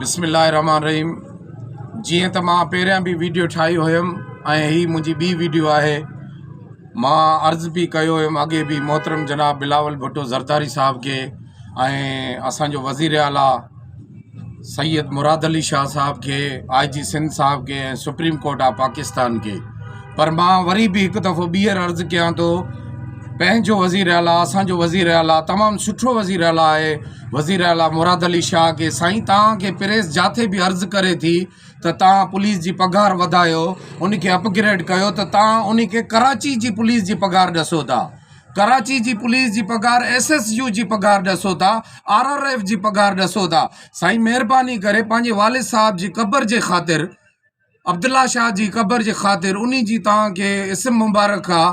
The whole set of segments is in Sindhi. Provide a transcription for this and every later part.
بسم الله الرحمن الرحيم جيئن ته مان پهريان به ويڊيو ٺاهي هيم ۽ هي منهنجي ٻي ويڊيو آهي مان عرض به ڪيو هيم اڳي به محترم جناب بلاول ڀٽو زرداري صاحب کي ۽ اسانجو وزير اعليٰ سيد مراد علي شاهه صاحب کي آء جي سنڌ صاحب کي ۽ سپريم ڪورٽ آف پاڪستان کي پر مان وري به هڪ دفعو ٻيهر عرض ڪيان ٿو پنهنجو وزير اعلٰي اسانجو وزير اعلٰي تمام سٺو وزير اعلٰي آهي وزير اعلٰي مراد علي شاهه کي سائين توهان کي پريس جاٿي به عرض ڪري ٿي ته توهان پوليس جي پگهار وڌايو ان کي اپگريڊ ڪيو ته توهان ان کي ڪراچي جي پوليس جي پگهار ڏسو ٿا ڪراچي جي پوليس جي پگهار ايس ايس يو جي پگهار ڏسو ٿا آر آر ايف جي پگهار ڏسو ٿا سائين مهرباني ڪري پنهنجي والد صاحب جي قبر جي خاطر عبدالله شاهه جي قبر جي خاطر ان جي توهان کي اسم مبارڪ آ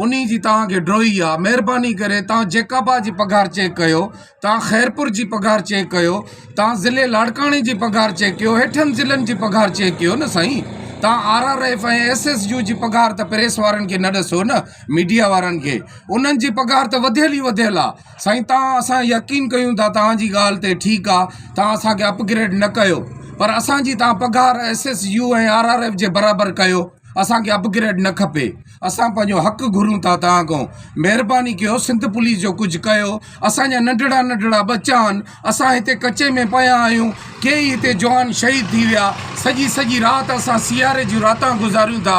ان جي توهان کي ڊوهي آ مهرباني ڪري توهان جيڪابا جي پگهار چيڪ ڪيو توهان خيرپور جي پگهار چيڪ ڪيو توهان ضلعي لاڙڪاڻي جي پگهار چيڪ ڪيو هيٺن ضلعن جي پگهار چيڪ ڪيو نه سائين توهان R R F ۽ S S U جي پگهار ته پريس وارن کي نه ڏسو نه ميڊيا وارن کي انهن جي پگهار ته وڌيل ئي وڌيل آ سائين تان اسان يقين ڪيون ٿا تان جي ڳالهه تي ٺيڪ آ تان اسان کي اپ گريڊ نه ڪيو پر اسان جي تان پگهار S S U ۽ R R F جي برابر ڪيو اسان کي اپ گريڊ نه کپي اسان پنهنجو حق گهرون ٿا تان کان مهرباني ڪيو سنڌ پوليس جو ڪجهه ڪيو اسان جا ننڍڙا ننڍڙا ٻچا آهن اسان هتي ڪچي ۾ پيا آهيون، ڪيئي هتي جوان شهيد ٿي ويا، سڄي سڄي رات اسان سياري جون راتان گذاريون ٿا،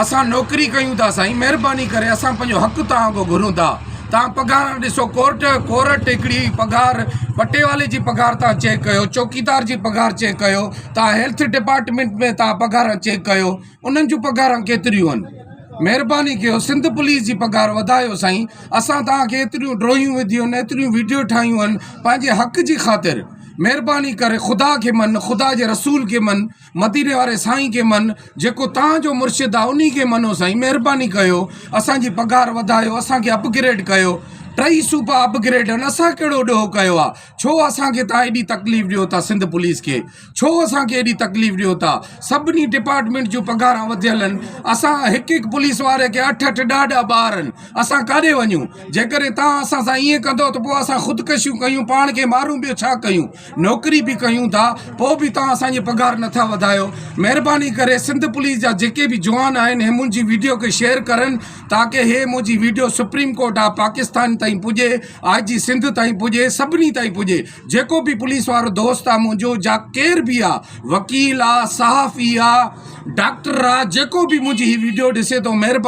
اسان نوڪري ڪيون ٿا سائين مهرباني ڪري اسان پنهنجو حق توهان کان گهرون ٿا، توهان پگهاران ڏسو ڪورٽ ڪورٽ هڪڙي پگهار پٽيوالي جي پگهار توهان چيڪ ڪيو چوڪيدار جي پگهار چيڪ ڪيو توهان هيلٿ ڊپارٽمينٽ ۾ توهان پگهاران چيڪ ڪيو. انهن جون پگهاران ڪيتريون هن مهرباني ڪيو سنڌ پوليس جي پگهار وڌايو سائين اسان توهان کي ايتريون ڊروهيون وڌيون هن ايتريون ويڊيو ٺاهيون هن پنهنجي حق جي خاطر مهرباني ڪري خدا کي من خدا جي رسول کي من مديني واري سائين کي من جيڪو توهان جو مرشد آهي انهي کي منو سائين مهرباني ڪيو اسانجي پگهار وڌايو اسان کي اپگريڊ ڪيو ٽئي صوبا اپگريڊ هن اسان ڪهڙو ڏوهه ڪيو آهي ڇو اسان کي توهان ايڏي تڪليف ڏيو ٿا سنڌ پوليس کي ڇو اسان کي ايڏي تڪليف ڏيو ٿا سڀني ڊپارٽمينٽ جون پگهاران وڌيل آهن اسان هڪ هڪ پوليس واري کي اٺ اٺ ڏهه ڏهه ٻار آهن اسان ڪاڏي وڃون جيڪڏهن تان اسان سان ائين ڪندو ته پوء اسان خودڪشيون ڪيون پاڻ کي مارون ٻيو ڇا ڪيون نوڪري به ڪيون ٿا پوء به تان اسان جي پگهار نٿا وڌايو مهرباني ڪري سنڌ پوليس جا جيڪي به جوان آهن هي منهنجي ويڊيو کي شيئر ڪرن تاڪه هي منهنجي video supreme court of Pakistan تائين پڄي آء جي سنڌ تائين پڄي سڀني تائين پڄي جيڪو به پوليس وارو دوست آ منهنجو جا ڪير به آ وڪيل آ صحافي آ ڊاڪٽر آ جيڪو به منهنجي هي ويڊيو ڏسي ٿو مهرباني